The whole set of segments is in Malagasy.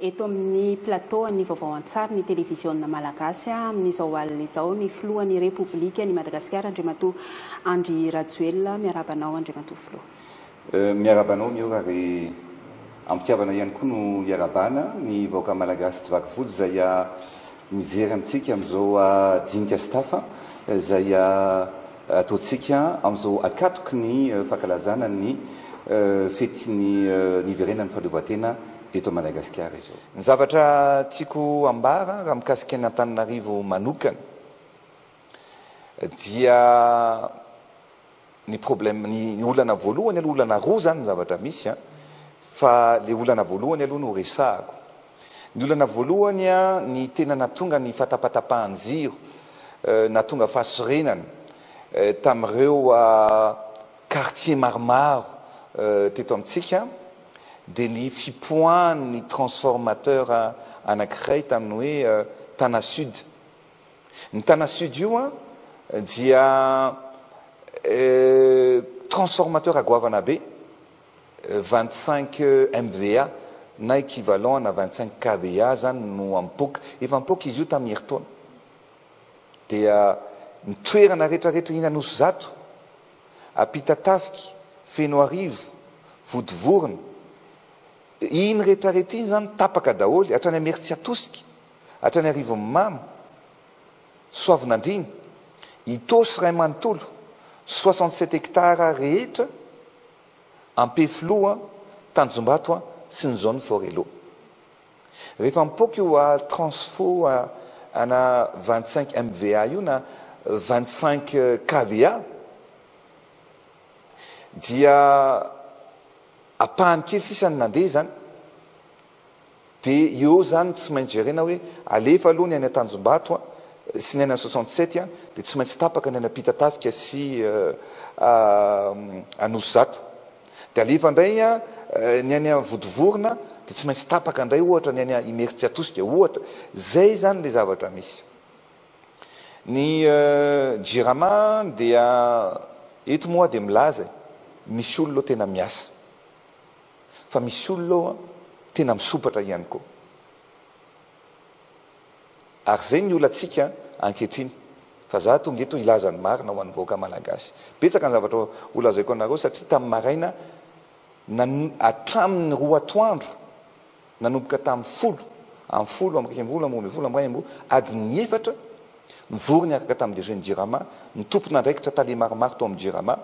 Eto amin'ny plateau an'ny vaovao an-tsary ny televiziona malagasy amin'izao alina izao ny filohan'ny Repoblikan'i Madagasikara Andriamatoa Andry Rajoelina. Miarahaba anao Andriamatoa Filoha. Miarahaba anao ny ora ary ampitiavana ihany koa no iarahabana ny vahoaka malagasy tsy vaky volo izay mijery amintsika amin'izao dinika sy tafa izay ataontsika amin'izao akatoky ny fankalazana ny fetin'ny niverenan'ny fahaleovantena eto Madagasikara izao. Ny zavatra tiako ambara raha mikasika an'i Antananarivo manokana dia Ny problème, ny olana voalohany aloha, olana roa zany ny zavatra misy an, fa le olana voalohany aloha no resahako. Ny olana voalohany an, ny tena natonga ny fatapatapahan-jiro, natonga fahasorenana tamin'ireo quartiers maromaro teto amintsika dia ny fipoahan'ny transformateur anankiray tamin'ny hoe Tana Sud. Ny Tana Sud io an dia transformateur à goavana be, vingt cinq MVA na equivalent ana vingt cinq KVA zany no ampoka, efa ampoka izy io tamin'ny herintaona. Dia ny toerana rehetra rehetra iny Anosizato, Ampitatafika, Fenoarivo, Vodivorona, iny rehetra rehetra iny zany tapaka daholo hatrany Imerintsiatosika. Hatrany arivony mamo, Soavinandriana, Itaosy Ray manontolo, soixante sept hectares rehetra, Ampefiloha, Tanjombato sy ny zone Forello. Rehefa mipoaka io à transfo ana vingt cinq MVA io na vingt cinq KVA dia ampahany kely sisa no nandeha izany. Dia eo izany tsy maintsy jerena hoe alefa aloha ny any Antanjombato a, sy ny any an soixante sept a, dia tsy maintsy tapaka ny any Ampitatafika sy a Anosizato. Dia alefa indray a ny any an Vodivorona, dia tsy maintsy tapaka indray ohatra ny any an Imeritsiatosika ohatra. Izay izany ilay zavatra misy. Ny Jirama dia eto moa dia milaza e, misy olona ao tena miasa. fa misy olona ao an tena misompatra ihany koa ary zay ny olantsika ankehitriny fa za tonga eto hilaza ny marina ho an'ny vahoaka malagasy betsaka ny zavatra holazaiko anareo satria tamin'ny maraina nan hatramin'ny roa atoandro Nanomboka tamin'ny folo amin'ny folo amby iraika ambin'ny folo amby roa ambin'ny folo amby iray amby roa adin'ny efatra, nivory niaraka tamin'ny DG ny Jirama, ny tompon'andraikitra tale maromaro tao amin'ny Jirama,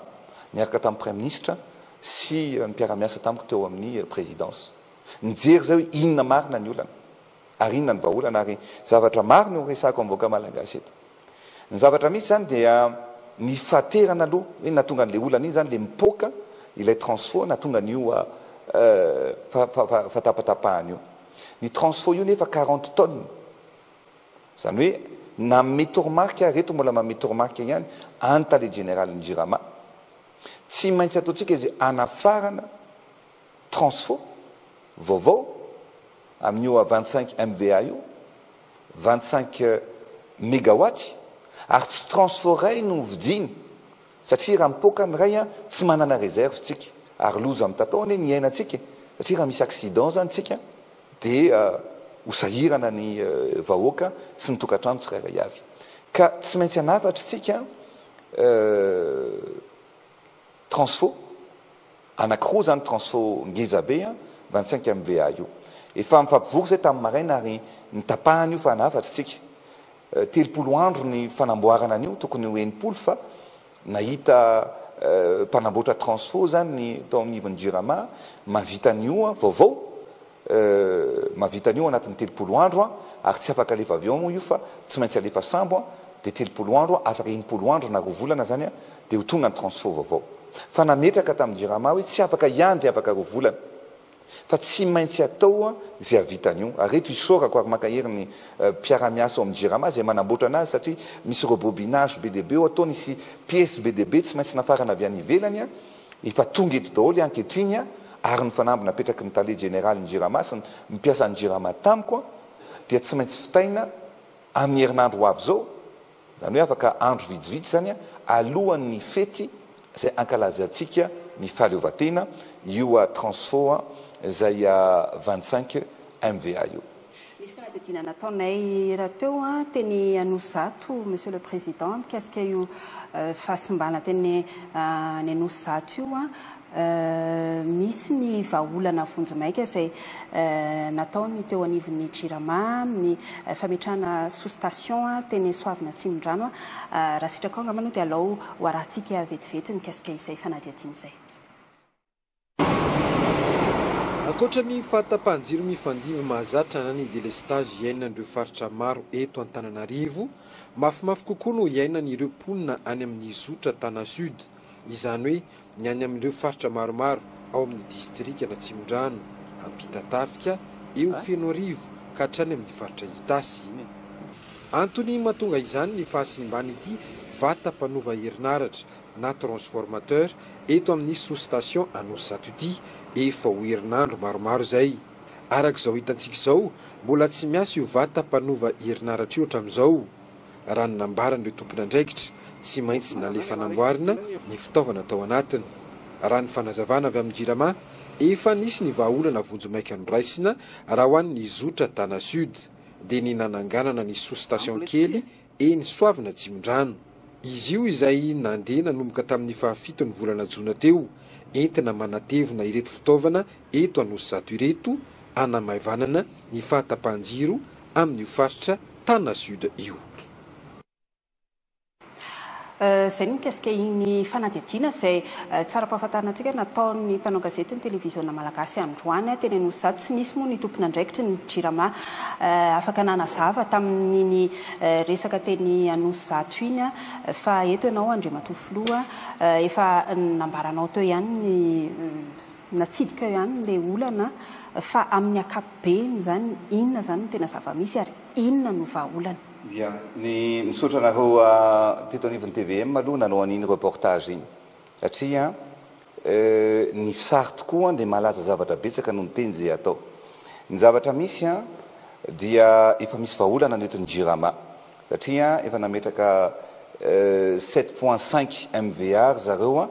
niaraka tamin'ny Praiminisitra sy ny mpiara-miasa tamiko teo amin'ny Présidence. Nijery izay hoe inona marina ny olana ary inona ny vahaolana ary zavatra maro no horesahako amin'ny vahoaka Malagasy eto. Ny zavatra misy zany dia ny fahaterana aloha hoe nahatonga an'ilay olana iny zany ilay mipoaka ilay transfo nahatonga an'io fahatapatapahana io. Ny transfo io nefa quarante tonnes. Izany hoe nanome toromarika, ireto mbola manome toromarika ihany any tale jeneralin'ny Jirama. Tsy maintsy ataontsika izay hanafarana. Transfo, vaovao, amin'io vingt-cinq MVA io, vingt-cinq megawatts, ary tsy transfo iray no hovidiany, satria raha mipoaka ny iray tsy manana réserve tsika, ary loza mitatao anie ny iainantsika, satria raha misy accident zany tsika dia ho sahirana ny vahoaka sy ny tokantrano tsirairay avy, ka tsy maintsy hanafatra tsika. Transfo anakiroa zany transfo ngeza be an, vingt cinq MVA io. Efa nifampivory zay tamin'ny maraina ary nitapahana io fa nahafatry tsika. Telopolo andro ny fanamboarana an'io tokony ho enimpolo fa nahita mpanamboatra transfo zany ny tao anivon'ny jirama mahavita an'io vaovao Euh mahavita an'io anatin'ny telopolo andro an, ary tsy afaka alefa avion moa io fa tsy maintsy alefa sambo an, dia telopolo andro an, afaka enimpolo andro na roa volana zany an, dia ho tonga ny transfo vaovao. Fa nametraka tamin'ny jirama hoe tsy afaka hiandry afaka roa volana fa tsy maintsy atao an izay havita an'io. Ary eto isaorako ary mankahery ny mpiara-miasa ao amin'ny jirama izay manamboatra anazy satria misy rebobinage be dia be ao, ataony hisy piece be dia be tsy maintsy nafarana avy any ivelany an, Efa tonga eto daholo ankehitriny ary ny fanamby napetraky ny tale jeneralin'ny Jirama sy ny mpiasan'ny Jirama tamiko dia tsy maintsy vitaina amin'ny herinandro ho avy izao, izany hoe afaka andro vitsivitsy izany alohan'ny fety izay ankalazantsika ny fahaleovantena io Transfo izay vingt cinq MVA io. Nisy fanadihadiana nataonay rahateo teny Anosizato, Monsieur le Président, mikasika io fahasimbana teny any Anosizato io. Misy ny vahaolana vonjimaika izay natao ny teo anivon'ny Jirama amin'ny fametrahana sous-station teny Soavina Atsimondrano. Raha sitraka ao angamba no dia alao ho arahintsika vetivety mikasika izay fanadihadiana izay. Ankoatra ny fahatapahan-jiro mifandimby mahazatra na ny delestazy iainan'ireo faritra maro eto Antananarivo, mafimafy kokoa no iainan'ireo mponina any amin'ny zotra Tana Sud, izany hoe ny any amin'ireo faritra maromaro ao amin'ny distrikan'Atsimondrano, Ampitatafika, eo Fenoarivo ka hatrany amin'ny faritra Itasy. Antony mahatonga izany ny fahasimban'ity vata mpanova herinaratra na transformateur eto amin'ny sous-station Anosizato ity efa ho herinandro maromaro izay. Araka izao hitantsika izao, mbola tsy miasa io vata mpanova herinaratra io hatramin'izao. Raha ny nambaran'ireo tompon'andraikitra, tsy maintsy nalefa namboarina ny fitaovana tao anatiny. Raha ny fanazavana avy amin'ny Jirama, efa nisy ny vahaolana vonjimaika noraisina raha ho an'ny zotra Tana Sud, dia ny nananganana ny sous-station kely eny Soavina Atsimondrano. Izy io izay nandeha nanomboka tamin'ny fahafiton'ny volana jona teo, entina manatevina ireto fitaovana eto Anosizato ireto, hanamaivanana ny fahatapahan-jiro amin'io faritra Tana Sud io. Izay ny mikasika iny fanadihadiana izay tsara ampahafantarina antsika nataon'ny mpanao gazety ny televiziona malagasy androany teny Anosizato. Tsy nisy moa ny tompon'andraikitry ny Jirama afaka nanazava tamin'iny resaka teny Anosizato iny fa eto ianao Andriamatoa Filoha efa nambaranao teo ihany ny natsidika ao ihany ilay olana fa amin'ny ankapobeny izany inona izany no tena zava-misy ary inona no vahaolana. Dia ny misaotra anareo teto anivon'ny tvm aloha nanao an'iny reportage iny satria ny sary tokoa dia malaza zavatra betsaka noho ny teny izay atao. Ny zavatra misy dia efa misy vahaolana ny eto ny Jirama satria efa nametraka sept point cinq MVA ry zareo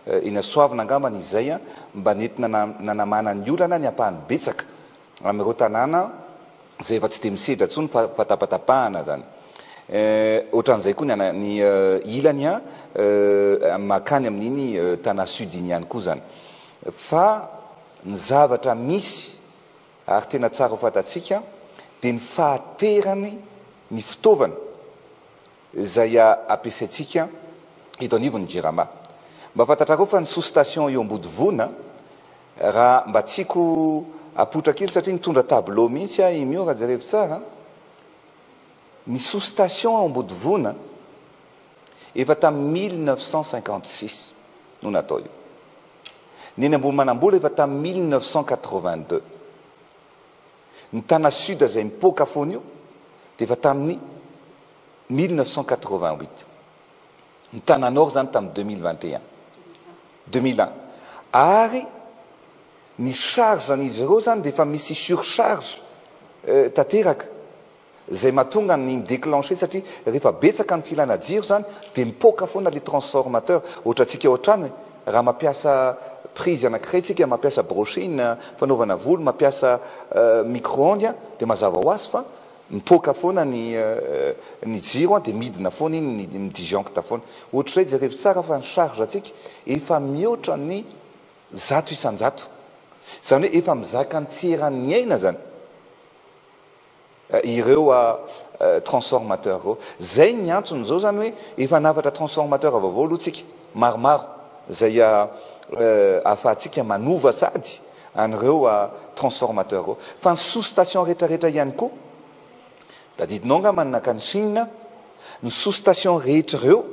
eny Soavina angambany izay mba nentina nanamana ny olana ny ampahany betsaka Amin'ireo tanàna izay efa tsy dia misedra intsony fa fatafatapahana izany. Ohatran'izay koa ny an, ny ilany an, makany amin'iny tanà sud iny ihany koa izany. Fa ny zavatra misy ary tena tsara ho fantatsika dia ny fahaterany ny fitaovana izay ampiasaintsika eto anivon'ny Jirama. Mba fantatrareo fa ny sous station eo Ambodivona, raha mba tiako apoitra kely satria nitondra tableau mihitsy aho i Mio raha jerevy tsara, ny sous station ao Ambodivona efa tamin'ny mille neuf cent cinquante six no natao io. Ny eny Ambohimanambola efa tamin'ny mille neuf cent quatre vingt deux. Ny Tana Sud izay mipoaka foana io dia efa tamin'ny mille neuf cent quatre-vingt-huit. Ny Tana Nord izany tamin'ny deux mille vingt et un, deux mille un. Ary ny charge an'izy ireo izany dia efa misy surcharge tanteraka. Zay mahatonga ny mi-declencher satria rehefa betsaka ny filana jiro zany dia mipoaka foana ilay transformateur, ohatra antsika ao an-trano e, raha mampiasa prise anakiray tsika, mampiasa brushing fanaovana volo, mampiasa micro-ondes dia mazava ho azy fa mipoaka foana ny ny jiro dia midina foana iny ny mi-disjoncte foana. Ohatrizay jerevo tsara fa ny charge antsika efa mihoatra ny zato isan-jato. Zany hoe efa mizaka ny tsy eran'ny aina zany. ireo transformateur ireo. Izay ny antony. Izao izany hoe efa hanafatra transformateur vaovao aloha isika maromaro izay ahafahantsika manova sady an'ireo transformateur ireo. Fa ny sous station rehetrarehetra ihany koa, tadidinao angamba ny nankany Chine, ny sous station rehetra ireo,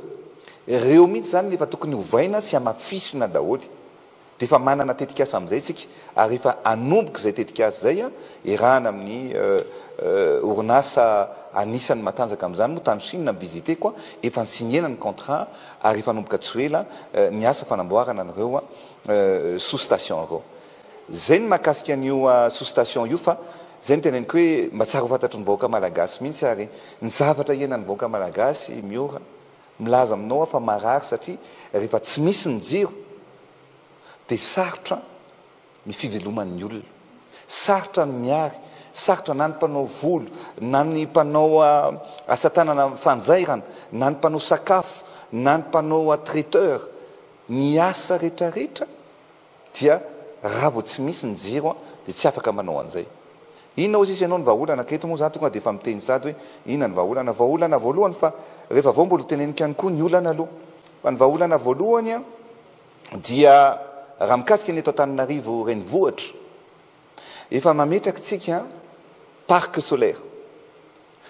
ireo mihitsy izany no efa tokony ovaina sy hamafisina daholo. Dia efa manana tetikasa amin'izay isika ary efa hanomboka izay tetikasa izay, iarahana amin'ny orinasa anisan'ny matanjaka amin'izany moa tany Chine mi-visiter-ko, efa ni-signer-na ny contrat ary efa hanomboka tsy ho ela ny asa fanamboarana an'ireo sous-station ireo. Izay ny mahakasika an'io sous-station io fa izay no teneniko hoe mba tsara ho fantatry ny vahoaka malagasy mihitsy ary ny zavatra iainan'ny vahoaka malagasy Miora Milaza aminao aho fa marary satria rehefa tsy misy ny jiro dia sarotra ny fiveloman'ny olona. Sarotra ny miary, sarotra na ny mpanao volo, na ny mpanao asa tanana fanjairana, na ny mpanao sakafo, na ny mpanao traiteur, ny asa rehetrarehetra dia raha vao tsy misy ny jiro an dia tsy afaka manao an'izay. Inona ozy ianao ny vahaolana ka eto moa za tonga dia efa miteny sady hoe inona ny vahaolana. Vahaolana voalohany fa rehefa avy eo mbola ho teneniko ihany koa ny olana aloha. Fa ny vahaolana voalohany an dia raha mikasika ny eto Antananarivo renivohitra efa mametraky tsika parc solaire.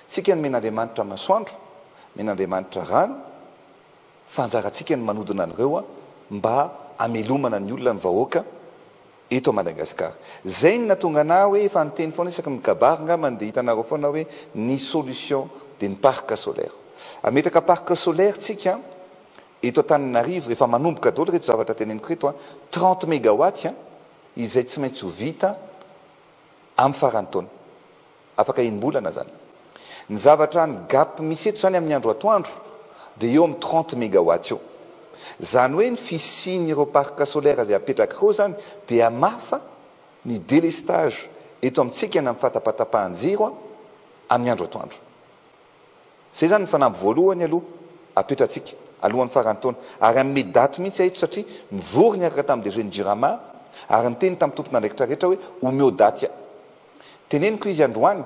Tsika nomen'Andriamanitra masoandro, nomen'Andriamanitra rano, fa anjarantsika ny manodina an'ireo mba hamelomana ny olona, ny vahoaka eto Madagascar. Zay no natonga anah hoe efa niteny foana isaky ny kabary ngambany dia hitanareo foana hoe ny solution dia ny parc solaire. Hametraka parc solaire tsika eto Antananarivo, efa manomboka daholo ireto zavatra teneniko ireto an, trente megawatts izay tsy maintsy ho vita amin'ny faran'ny taona. Afaka enim-bolana zany. Ny zavatra ny gap misy eto zany amin'ny andro atoandro dia eo amin'ny trente megawatts eo. Zany hoe ny fisian'ireo parc solaire izay apetraka ireo zany dia hamafa ny délestage eto amintsika na ny fatapatapahan-jiro amin'ny andro atoandro. Izay izany ny fanamby voalohany aloha apetratsika alohan'ny faran'ny taona ary hanome daty mihitsy ahy eto satria nivory niaraka tamin'ny DG-n'ny Jirama ary niteny tamin'ny tompon'andraikitra rehetra hoe omeo daty ahy. Teneniko izy androany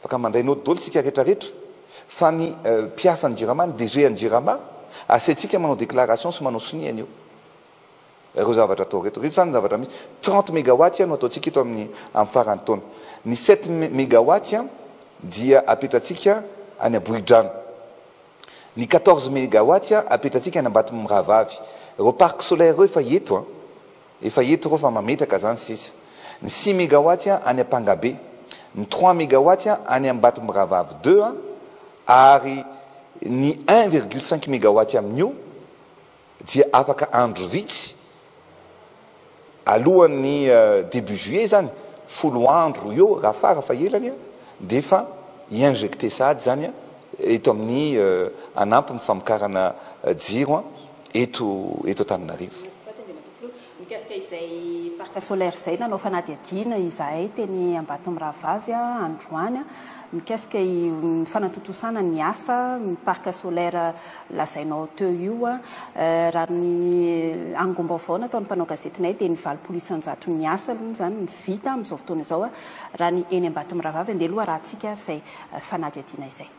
fa ka mandray note daholo isika rehetrarehetra fa ny mpiasan'ny Jirama, ny DG-n'ny Jirama, asaintsika manao déclaration sy manao sonia anio. Ireo zavatra atao ireto. Ireto izany ny zavatra misy. Trente megawatts no ataontsika eto amin'ny amin'ny faran'ny taona. Ny sept megawatts dia apetratsika any Ambohidrano. Ny quatorze megawatts apetratsika any Ambatomirahavavy. Ireo parc solaire ireo efa eto an! Efa eto ireo fa mametraka izany sisa. Ny six megawatts any Ampangabe. Ny trois megawatts any Ambatomirahavavy deux ary ny un virgule cinq megawatts amin'io, Dia afaka andro vitsy alohan'ny début juillet izany, folo andro eo raha fara fahelany dia efa hi-injecter sahady izany eto amin'ny hanampy ny famokarana jiro eto Antananarivo. Mikasika izay parc solaire izay, nanao fanadihadiana izahay teny Ambatomirahavavy androany mikasika ny fanatontosana ny asa ny parc solaire lazainao teo io. Raha ny angom-baovao nataon'ny mpanao gazetinay dia ny valopolo isan-jato ny asa aloha izany no vita amin'izao fotoana izao raha ny eny Ambatomirahavavy. Andeha aloha arahantsika ary izay fanadihadiana izay.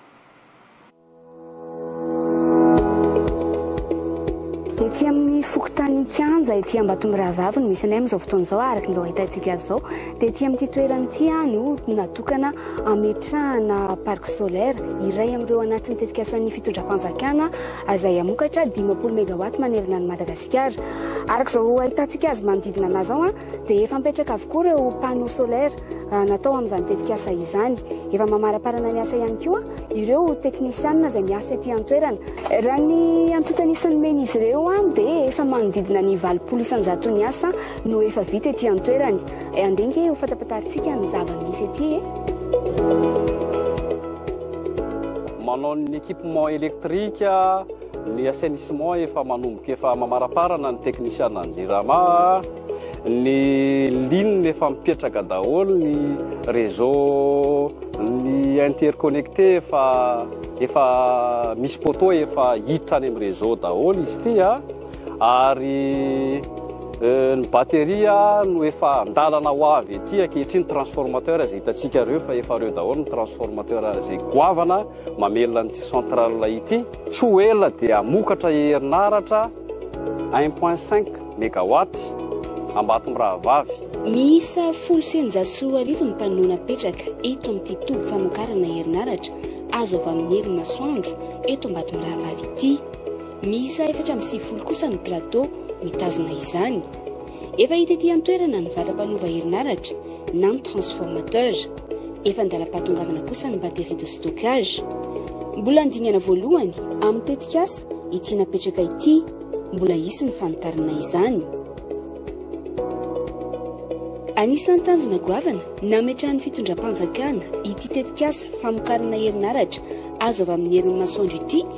Ety amin'ny fokontany Kianja ety Ambatomirahavavy no misy anay amin'izao fotoana izao araka izao ahitantsika azy izao dia ety amin'ity toerana ity no natokana hametrahana parc solaire iray amin'ireo anatin'ny tetikasan'ny fitondram-panjakana izay hamokatra dimampolo megawatt manerana an'i Madagasikara araka izao ahitantsika azy manodidina anay izao an dia efa mipetraka avokoa ireo panneau solaire ah, natao amin'izany tetikasa izany. Efa mamaraparana ny asa ihany koa ireo teknisianina izay miasa ety an-toerana. Raha ny antontan'ny isan'ny men'izy ireo ah, dia efa manodidina ny valopolo isanjato ny asa no efa vita ety an-toerany. Eh, Andringe ho fatapatantsika ny zava-misy ety e. Manao ny équipement électrique, Ny assainissement efa manomboka efa mamaraparana ny teknisiana ny jirama, ny ligne efa mipetraka daholo, ny réseau, ny interconnecté efa efa misy poteau efa hiditra any amin'ny réseau daholo izy ity a, ary euh, ny batterie no efa andalana ho avy ety ankehitriny transformateur izay hitantsika ireo fa efa ireo daholo ny transformateur izay goavana Mamelona an'ity centrale ity. Tsy ho ela dia hamokatra herinaratra un point cinq megawatt Ambatomirahavavy. Miisa folo sy eninjato sy roa arivo ny mpanonona apetraka eto amin'ity toby famokarana herinaratra azo avy amin'ny herin'ny masoandro eto Ambatomirahavavy ity. Miisa efatra amby sivifolo kosa ny plateau mitazona izany. Efa hita ety an-toerana ny vata mpanova herinaratra na ny transformateur. Efa an-dalam-pahatongavana kosa ny batterie de stockage. Mbola ny dingana voalohany amin'ny tetikasa ity napetraka ity. Mbola hisy ny fanitarana izany. Anisan'ny tanjona goavana nametrahan'ny fitondram-panjakana ity tetikasa famokarana herinaratra azo avy amin'ny herin'ny masoandro ity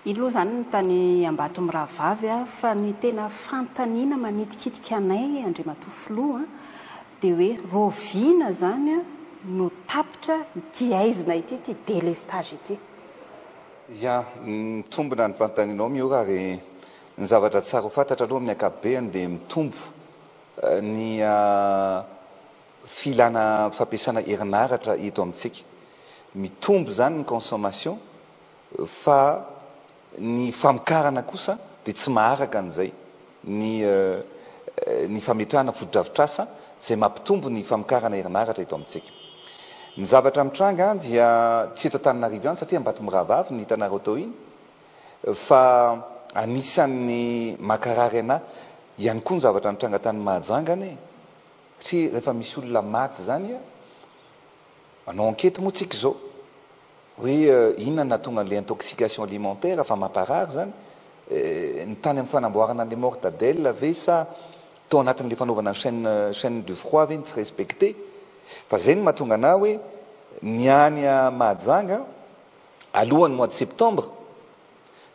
Iny aloha izany ny tany Ambatomirahavavy a, fa ny tena fanontaniana manitikitika anay Andriamatoa Filoha dia hoe raoviana izany no tapitra ity haizina ity, ity délestage ity. Ya, mitombina ny fanontanianao Miora ary ny zavatra tsara ho fantatra aloha amin'ny ankapobeny dia mitombo ny filana fampiasana herinaratra eto amintsika. Mitombo izany ny consommation fa ny famokarana kosa dia tsy maharaka an'izay. Ny ny fametrahana fotodrafitrasa izay mampitombo ny famokarana herinaratra eto amintsika. Ny zavatra mitranga dia tsy eto Antananarivo ihany satria Ambatomirahavavy ny hitanareo tao iny fa anisan'ny makarary anà ihany koa ny zavatra nitranga tany Mahajanga anie. Satria rehefa misy olona maty izany a, manao enquete moa tsika izao hoe inona no nahatonga an'ilay intoxication alimentaire fa mamparary izany e, ny tany amin'ny fanamboarana an'ilay mortadelle ve sa tao anatin'ilay fanaovana ny chaine chaine du froid ve no tsy respecte fa izay no mahatonga anah hoe ny any Mahajanga alohan'ny mois de septembre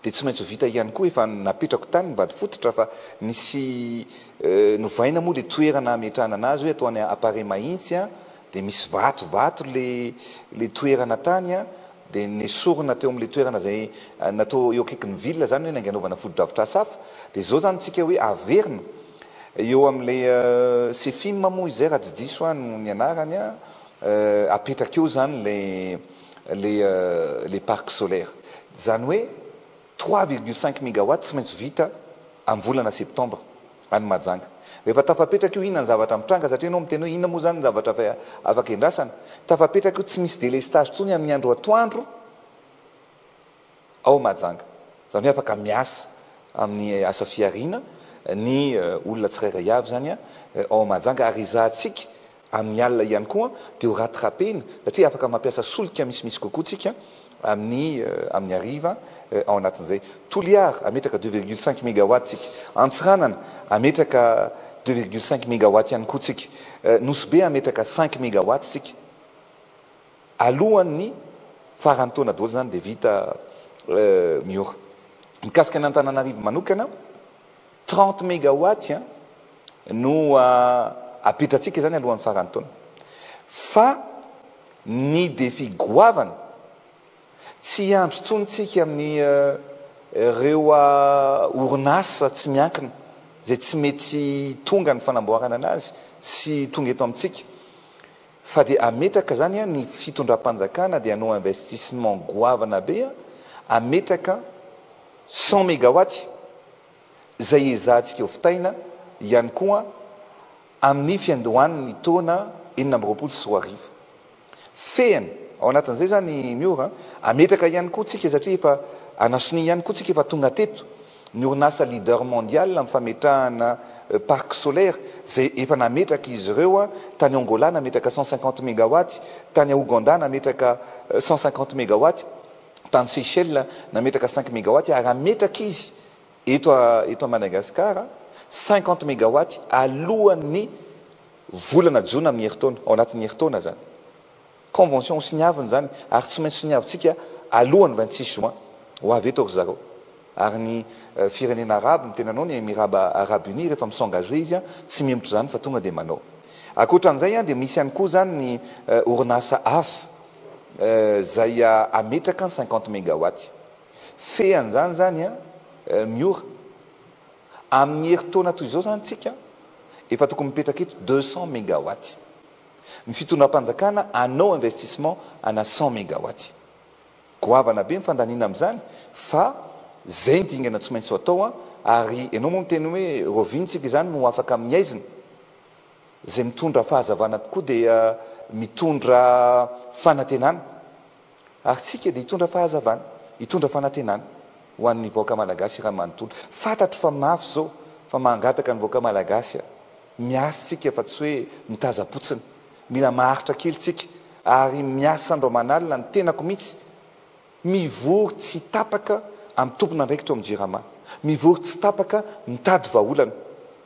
Dia tsy maintsy ho vita ihany koa efa napetrako tany ny vady fototra fa nisy novaina moa le toerana hametrahana anazy hoe atao any Apare mahintsy an, dia misy vato vato le le toerana tany an, dia nesorina teo amle toerana zay natao eo akaiky ny ville zany hoe nainganaovana fotodrafitrasa hafa, dia zao zany tsika hoe averina eo amle Cefim moa izay raha tsy diso aho no ny anarany an, apetraka eo zany le. le le parc solaire zany hoe trois virgule cinq megawatt tsy maintsy vita am volana septembre any Mahajanga rehefa tafapetraka io inona ny zavatra mitranga satria enao miteny hoe inona moa zany ny zavatra efa afaka endrasana tafapetraka io tsy misy delestage tsony aminy andro atoandro ao Mahajanga. Izany hoe afaka miasa amin'ny asa fihariana ny olona tsirairay avy izany ao Mahajanga ary ezahantsika amin'ny alina ihany koa dia ho rattrapena satria afaka mampiasa solika misimisy kokoa tsika amin'ny amin'ny hariva ao anatin'izay. Toliara, hametraka deux virgule cinq megawatt tsika. Antsiranana, hametraka deux virgule cinq megawatt ihany koa tsika. Nosy Be hametraka cinq megawatt tsika. Alohan'ny faran'ny taona daholo izany dia vita Miora. Mikasika an'Antananarivo manokana, trente megawatts no apetratsika izany alohan'ny faran'ny taona. Fa ny défi goavana, tsy hiandry intsony isika amin'ireo orinasa tsy miankina izay tsy mety tonga ny fanamboarana anazy sy tonga eto amintsika. Fa dia ametraka zany an ny fitondram-panjakana dia hanao investissement goavana be an, ametraka cent megawatts izay ezahantsika hovitaina ihany koa amin'ny fiandohan'ny taona enina amby roapolo sy roa arivo. Fehiny ao anatin'izay zany Miora an, ametraka ihany koa tsika satria efa anasonia ihany koa tsika efa tonga teto, Ny orinasa leader mondial amin'ny fametrahana parc solaire izay efa nametraka izy ireo, tany Angola nametraka cent cinquante megawatts, tany Aogandà nametraka cent cinquante megawatts, tany Seychelles nametraka cinq megawatts ary hametraka izy eto eto Madagascar cinquante megawatts alohan'ny volana jona amin'ny herintaona, ao anatin'ny herintaona izany. Convention siniaviny izany ary tsy maintsy siniavintsika alohan'ny vingt six juin ho avy eto ry zareo. Ary ny firenena arabo ny tenanao ny Emiraba Arabo Unis rehefa mi-s'engager izy an, tsy mihemotra izany fa tonga dia manao. Ankoatran'izay an dia misy ihany koa izany ny orinasa hafa izay hametraka ny cinquante megawatts. Fean'izany izany an, Miora. Amin'ny herintaona toy izao izany tsika efa tokony mipetraka eto deux cents megawatts. Ny fitondram-panjakana hanao investissement ana cent megawatts. Goavana be ny fandaniana amin'izany fa izay ny dingana tsy maintsy ho atao an! Ary ianao moa miteny hoe Rovintsika izany no afaka amin'ny haizina. Izay mitondra fahazavana tokoa dia mitondra fanantenana. Ary tsika dia hitondra fahazavana, hitondra fanantenana ho an'ny vahoaka Malagasy raha manontolo. Fantatro fa mafy izao fa mangataka ny vahoaka Malagasy a! Miasa tsika fa tsy hoe mitaza-potsiny. Mila maharitra kely tsika ary miasa andro aman'alina ny tenako mihitsy. Mivory tsy tapaka amin'ny tompon'andraikitra ao amin'ny Jirama. Mivory tsy tapaka mitady vahaolana.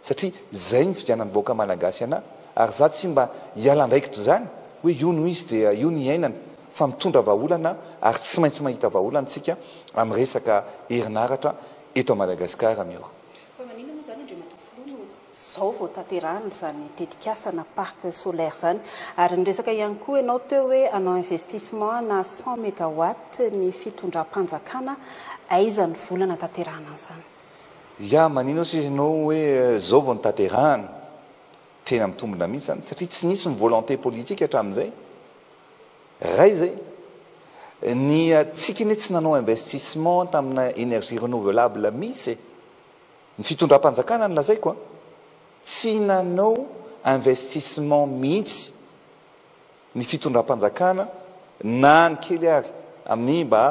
satria zay ny fidianan'ny vahoaka Malagasy anah ary zah tsy mba hiala andraikitra izany hoe io no izy dia io no hiainana fa mitondra vahaolana ary tsy maintsy mahita vahaolana tsika amin'ny resaka herinaratra eto Madagascar miora. Fa maninona moa izany Andriamatoa Filoha no izao vao tanterahina izany tetikasa na parc solaire izany? Ary niresaka ihany koa ianao teo hoe hanao investissement ana cent megawatts ny fitondram-panjakana, aiza ny vola hanatanterahana an'izany? Ya manino sisa enao hoe zao vao notaterahana? Tena mitombina mihitsy zany satria tsy nisy ny volonté politique hatramin'izay. Ray zay. Ny tsiky ne tsy nanao investissement tamina energie renouvelable mihitsy e. Ny fitondram-panjakana no lazaiko a. Tsy nanao investissement mihitsy. ny fitondram-panjakana na ny kely ary amin'ny mba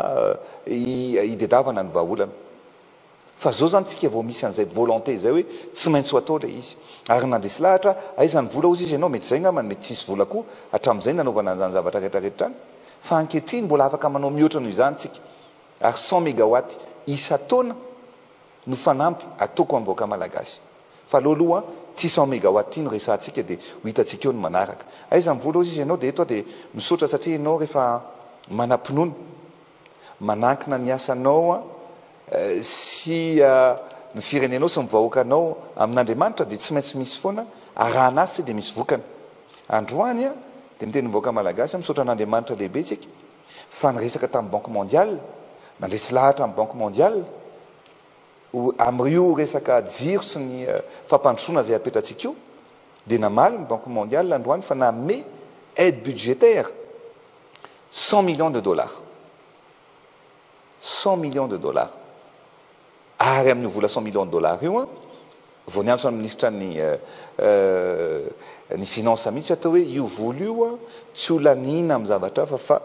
hidedavana ny vahaolana. Fa zao zany tsika vao misy an'izay volonté izay hoe tsy maintsy ho atao ilay izy. Ary nandresy lahatra aho, aiza ny vola hozy izy, ianao mety izay angambany, mety tsisy vola koa hatramin'izay nanaovana an'izany zavatra rehetra rehetra izany. Fa ankehitriny mbola afaka manao mihoatra noho izany tsika. Ary cent megawatts isan-taona. no fanampy ataoko amin'ny vahoaka malagasy fa aleo aloha ity cent megawatt ity no resahantsika dia ho hitantsika eo ny manaraka. Aiza ny vola hozy izy ianao dia eto aho dia misaotra satria ianao rehefa manam-pinoana manankina ny asanao sy ny firenenao sy ny vahoakanao amin'Andriamanitra dia tsy maintsy misy foana arahana azy sy dia misy vokany. Androany aho dia miteny ny vahoaka malagasy aho misaotra an'Andriamanitra lehibe tsika. fa niresaka tamin'ny Banque Mondiale, nandresy lahatra ny Banque Mondiale amin'io resaka jiro sy ny fampandrosoana izay hapetratsika io, dia namaly ny Banque Mondiale androany fa nanome aide budgétaire cent millions de dollars, cent millions de dollars. Ary amin'io vola cent millions de dollars io, vao niantso an'i Ministra ny ny Finances mihitsy aho teo hoe io vola io tsy ho laniana amin'ny zavatra hafa fa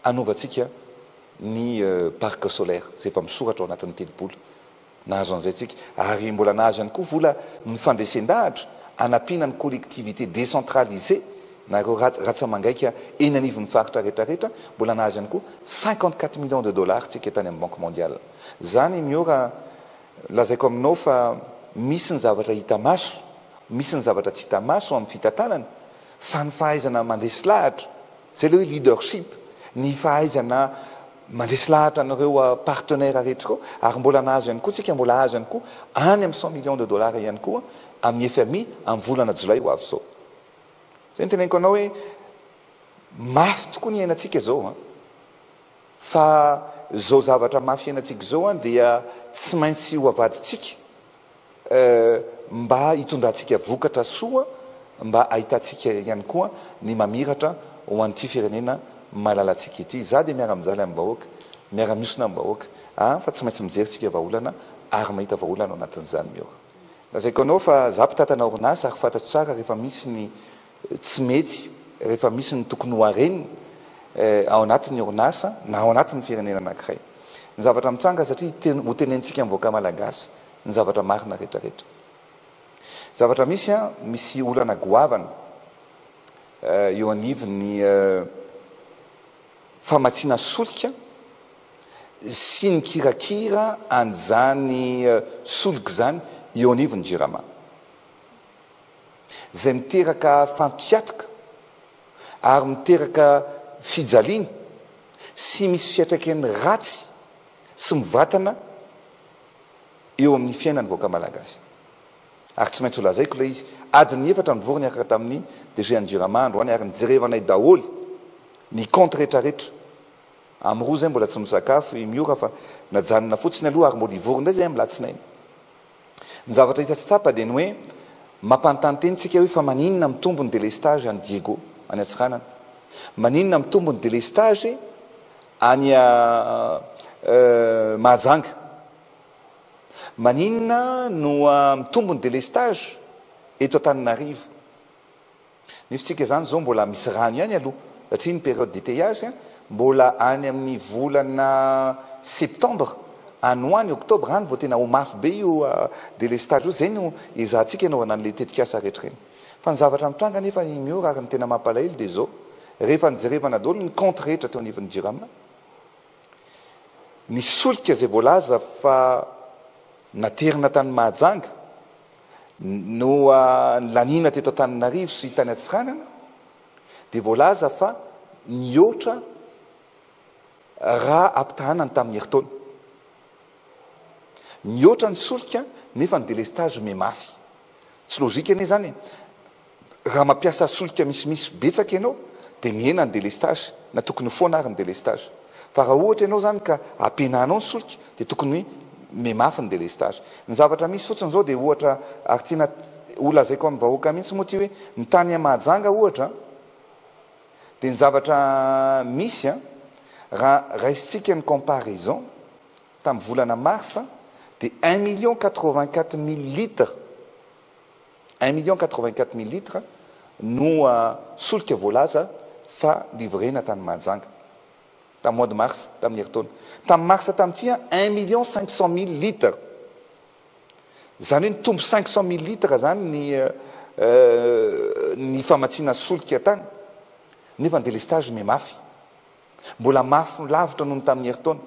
hanovantsika ny parc solaire izay efa misoratra ao anatin'ny telopolo. Nahazo an'izay tsika. Ary mbola nahazo ihany koa vola ny fandresen-dahatra hanampiana ny collectivités décentralisées na ireo ratsa-mangaika eny anivon'ny faritra rehetra rehetra, mbola nahazo ihany koa cinquante quatre millions de dollars tsika tany amin'ny Banque mondiale. Zany i Miora lazaiko aminao fa misy ny zavatra hita maso, misy ny zavatra tsy hita maso amin'ny fitantanana fa ny fahaizana mandresy lahatra, zay le hoe leadership, ny fahaizana mandresy lahatra an'ireo partenaires rehetra ireo ary mbola nahazo ihany koa tsika mbola azo ihany koa any amin'ny cent millions de dollars ihany koa amin'ny fmi amin'ny volana jolay ho avy zao. Zay ny teneniko anao hoe mafy tokoa ny iainantsika zao an! Fa zao zavatra mafy hiainantsika zao an dia tsy maintsy ho avadintsika eh, mba hitondrantsika vokatra soa mba ahitantsika ihany koa ny mamiratra ho an'ity firenena malalantsika ity. Za dia miara mijaly amin'ny vahoaka, miara miosona amin'ny vahoaka ah, fa tsy maintsy mijery tsika vahaolana ary mahita vahaolana ao anatin'izany miora. Lazaiko anao fa za mpitantana orinasa ary fantatro tsara rehefa misy ny tsy mety rehefa misy ny tokony ho areny ao anatin'ny orinasa na ao anatin'ny firenena anankiray. Ny zavatra mitranga satria ten ho tenentsika amin'ny vahoaka malagasy ny zavatra marina retraretra. Zavatra misy an, misy olana goavana eo anivon'ny famatsiana solika sy ny kirakira an'izany solika izany eo anivon'ny Jirama. izay miteraka fampiatoka ary miteraka fijaliana sy misy fiatraikany ratsy sy mivatana eo amin'ny fiainan'ny vahoaka malagasy. Ary tsy maintsy ho lazaiko ilay izy, adiny efatra mivory niaraka tamin'ny DG an'i Jirama androany ary nijerevanay daholo ny compte retraretra. Am roa izay mbola tsy misakafo i Miora fa najanona fotsiny aloha ary mbola hivory indray izay amin'ny latsinainy. Ny zavatra hita sy tsapa dia ny hoe mampanontany tena isika hoe fa maninona mitombo ny délestage any Diego, any Antsiranana? Maninona mitombo ny délestage any Mahajanga? Maninona no mitombo ny délestage eto Antananarivo? Ny fitsika zany zao mbola misy rano ihany aloha satria ny période d'étayage mbola any amin'ny volana septembre any ho any octobre any vao tena ho mafy be io délestage io, zay no ezahantsika anaovana an'le tetikasa rehetra ireny. Fa ny zavatra mitranga anefa i Miora ary ny tena mampalahelo dia zao, rehefa nijerevana daholo ny compte rehetra teo anivon'ny Jirama, ny solika zay voalaza fa naterina tany Mahajanga, Noa nilaniana teto Antananarivo sy tany Antsiranana dia voalaza fa nihoatra raha ampitahaina ny tamin'ny herintaona. Nihoatra ny solika nefa ny delestazy omia mafy. Tsy lojika anie izany e! Raha mampiasa solika misimisy betsaka ianao dia mihena ny délestage na tokony ho foana ary ny délestage. Fa raha ohatra ianao izany ka ampihenanao ny solika dia tokony mihamafy ny délestage. Ny zavatra misy fotsiny izao dia ohatra ary tiana ho lazaiko amin'ny vahoaka mihitsy moa ity hoe ny tany à Mahajanga ohatra dia ny zavatra misy a, raha raisintsika ny comparaison tamin'ny volana mars dia un million quatre vingt quatre mille litres. Un million quatre-vingt-quatre mille litres no solika voalaza fa livrena tany Mahajanga, tamin'ny mois de mars, tamin'ny herintaona. Tamin'ny marsa tamin'ity, un million cinq cent mille litres. Izany hoe nitombo cinq cent mille litres izany ny ny famatsiana solika tany, nefa ny délestage miha mafy. Mbola mafy lavitra noho ny tamin'ny herintaona.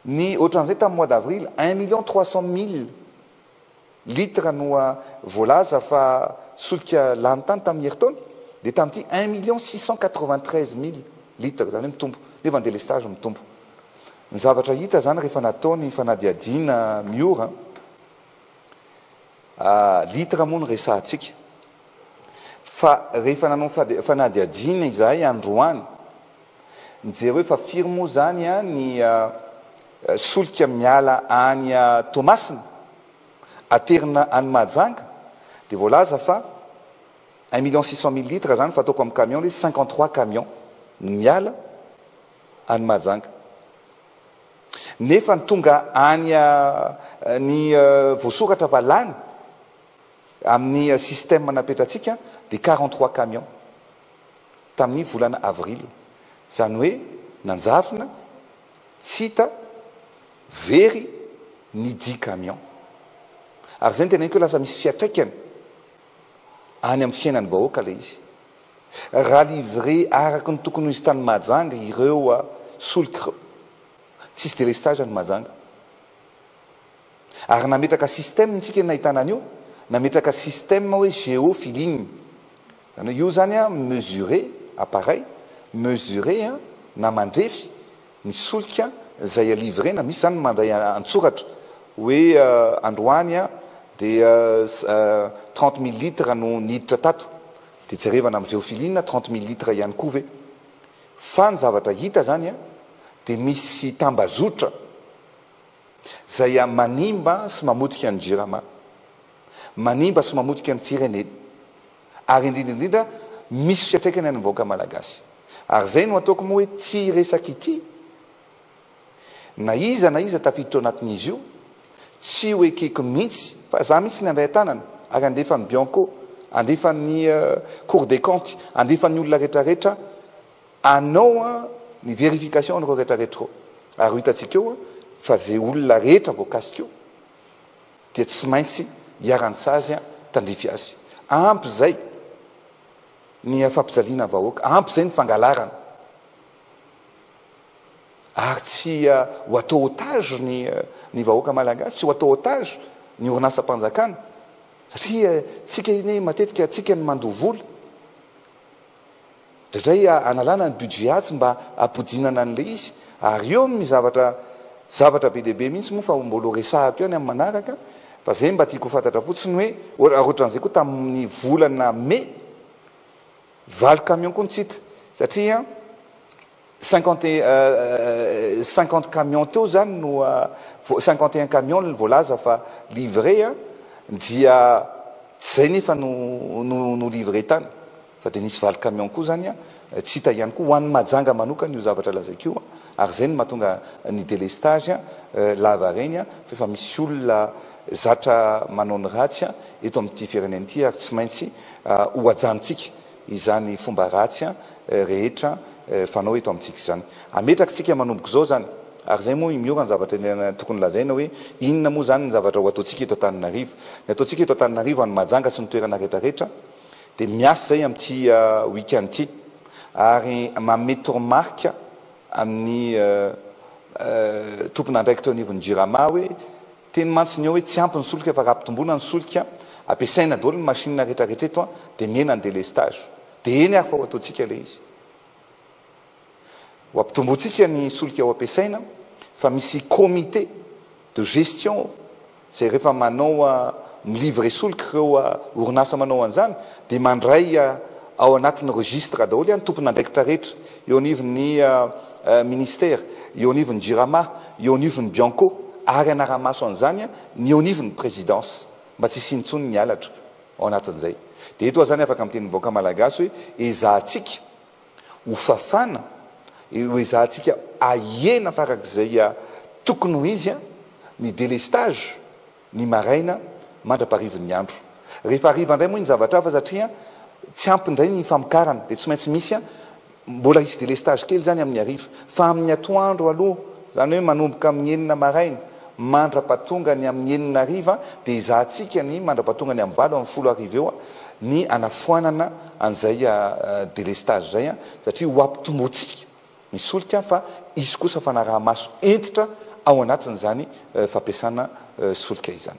Ny ohatran'izay tamin'ny mois d'avril, un million trois cent mille litres no voalaza fa solika lany tany tamin'ny herintaona dia tamin'ity un million six cent quatre vingt treize mille litres izany hoe mitombo nefa ny délestage mitombo. Ny zavatra hita izany rehefa natao ny fanadihadiana miora litres moa no resahantsika fa rehefa nanao fanadihadiana izahay androany, Mijereo fa firy moa zany ny solika miala any Toamasina aterina any Mahajanga dia voalaza fa un million six cent mille litres zany fa ataoko amin'ny camion le cinquante trois camion no miala any Mahajanga nefa ny tonga any ny voasoratra fa lany amin'ny système napetratsika dia quarante trois camion. tamin'ny volana avril, izany hoe nanjavona tsy hita very ny dix camions ary izay no teneniko hoe lasa misy fiatraikany any amin'ny fiainan'ny vahoaka ilay izy. Raha livrer araka ny tokony ho izy tany Mahajanga ireo solika ireo, tsisy délestage any Mahajanga. Ary nametraka système tsika nahitana an'io, nametraka système hoe geo feeling. Izany hoe io izany an mesurer, appareil, mesurer an, na mandrefy ny solika izay a livrer-na, misy izany mandray an-tsoratra hoe androany an dia trente mille litres no niditra tato, dia jerevana amin'ny geo feeling na trente mille litres ihany koa ve. Fa ny zavatra hita izany an dia misy tambazotra Izay manimba sy mamotika ny Jirama, manimba sy mamotika ny firenena ary indrindra indrindra misy fiatraikany any vahoaka Malagasy. Ary izay no ataoko moa hoe ity resaka ity, na iza na iza tafiditra ao anatin'izy io, tsy ho ekeko mihitsy fa za mihitsy ny handray an-tanana ary handefa ny Bianco, handefa ny Cour des comptes, handefa ny olona rehetra rehetra, Anao an ny verification anareo rehetra rehetra eo ary ho hitantsika eo fa ze olona rehetra voakasika eo dia tsy maintsy iharan'ny sazy an tandrify azy ampy zay ny fampijaliana ny vahoaka ampy zay ny fangalarana ary tsy ho atao otage ny ny vahoaka malagasy tsy ho atao otage ny orinasam-panjakana satria tsika anie matetika tsika ny mandoa vola Indraindray analana ny budget atsy mba hampodinana an'ilay izy ary eo amin'ny zavatra zavatra be dia be mihitsy moa fa mbola ho resahako ihany amin'ny manaraka fa izay mba tiako ho fantatra fotsiny hoe ohatran'izay koa tamin'ny volana mai valo camion koa ny tsy hita satria Cinquante et un, cinquante camions teo izany no, cinquante et un camions no voalaza fa livrer an, dia tsy izay nefa no no no livrer tany fa dia nisy valo camions koa izany an, tsy hita ihany koa ho an'i Mahajanga manokana io zavatra lazaiko io an, ary izay no mahatonga ny délestage an lavareny an, fa efa misy olona zatra manao ny ratsy an eto amin'ity firenena ity ary tsy maintsy ho hajantsika. izany fomba ratsy rehetra fanao eto amintsika izany. Ametraka tsika manomboka izao izany. Ary izay moa i Miora ny zavatra tena tokony lazaina hoe inona moa izany ny zavatra ho ataontsika eto Antananarivo. Ny ataontsika eto Antananarivo any Mahajanga sy ny toerana rehetra rehetra dia miasa izay amin'ity week-end ity ary manome toromarika amin'ny tompon'andraikitra eo anivon'ny Jirama hoe Teny mantsy ny eo hoe tsy ampy ny solika fa raha ampitomboina ny solika ampiasaina daholo ny machine rehetra rehetra eto dia mihena ny délestage. Dia eny ary fa ho ataontsika ilay izy. Ho ampitombointsika ny solika ho ampiasaina fa misy comité de gestion ao izay rehefa manao mi-livrer solika ireo orinasa manao an'izany dia mandray ao anatin'ny registre daholo ny tompon'andraikitra rehetra eo anivon'ny ministère, eo anivon'ny jirama. eo anivon'ny Bianco ary hanara-maso an'izany ny eo anivon'ny Présidence mba tsy hisiany intsony ny halatra ao anatin'izay. Dia eto aho izany afaka miteny amin'ny vahoaka Malagasy hoe ezahantsika ho fafana, ezahantsika ahena farak'izay tokony ho izy ny délestage, ny maraina mandra-parivin'ny andro. Rehefa hariva indray moa iny zavatra hafa satria tsy ampy indray ny famokarana dia tsy maintsy misy mbola hisy délestage kely izany amin'ny hariva. Fa amin'ny atoandro aloha, izany hoe manomboka amin'ny enina maraina mandra-pahatonga ny amin'ny enina hariva dia ezahantsika ny mandra-pahatonga ny amin'ny valo amin'ny folo hariva eo ny hanafoanana an'izay délestage izay satria ho ampitombointsika ny solika fa hisy kosa fanaraha-maso hentitra ao anatin'izany fampiasana solika izany.